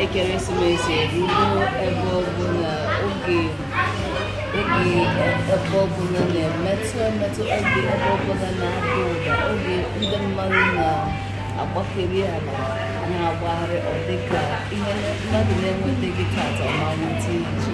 ekeresimesi erugo ebe ọbụla oge ebe ọbụla na-emetụ emetụ oge ebe ọbụla na-ada ụda oge ndị mmadụ na-agbakeri ala na-agbagharị ọ dịka ihe mmadụ na-enwetaghị tata ọ ma nweta echi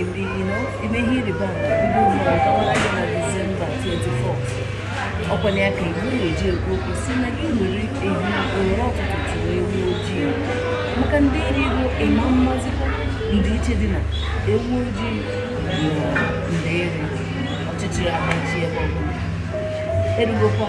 Ebi, you know, ime ihe ịrịba ama bido ugbu a gawara gị na Disemba 24. Ọkwa ya ka Igbo na-eji ekwu okwu sị na gị were ehihie were ụtụtụ chụrụ ewu ojii. Maka ndeeri ruo ị ma amazikwa ndịiche dị na ewu ojii na ndeeri ọchịchịrị amachie ebe ọbụla. Erugokwa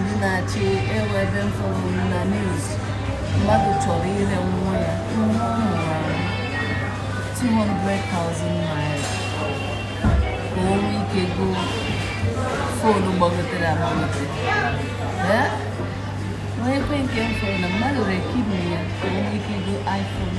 ndị na-achị e nwe ebe m fụrụ na news mmadụ chọrọ ire nwa ya nwa ọ mụrụ ahụ 200,000 naira ka o nwee ike go fonu gbagotere agbagote o nwekwa nke m fụrụ na mmadụ rere kidney ya ka o nwee ike go iphone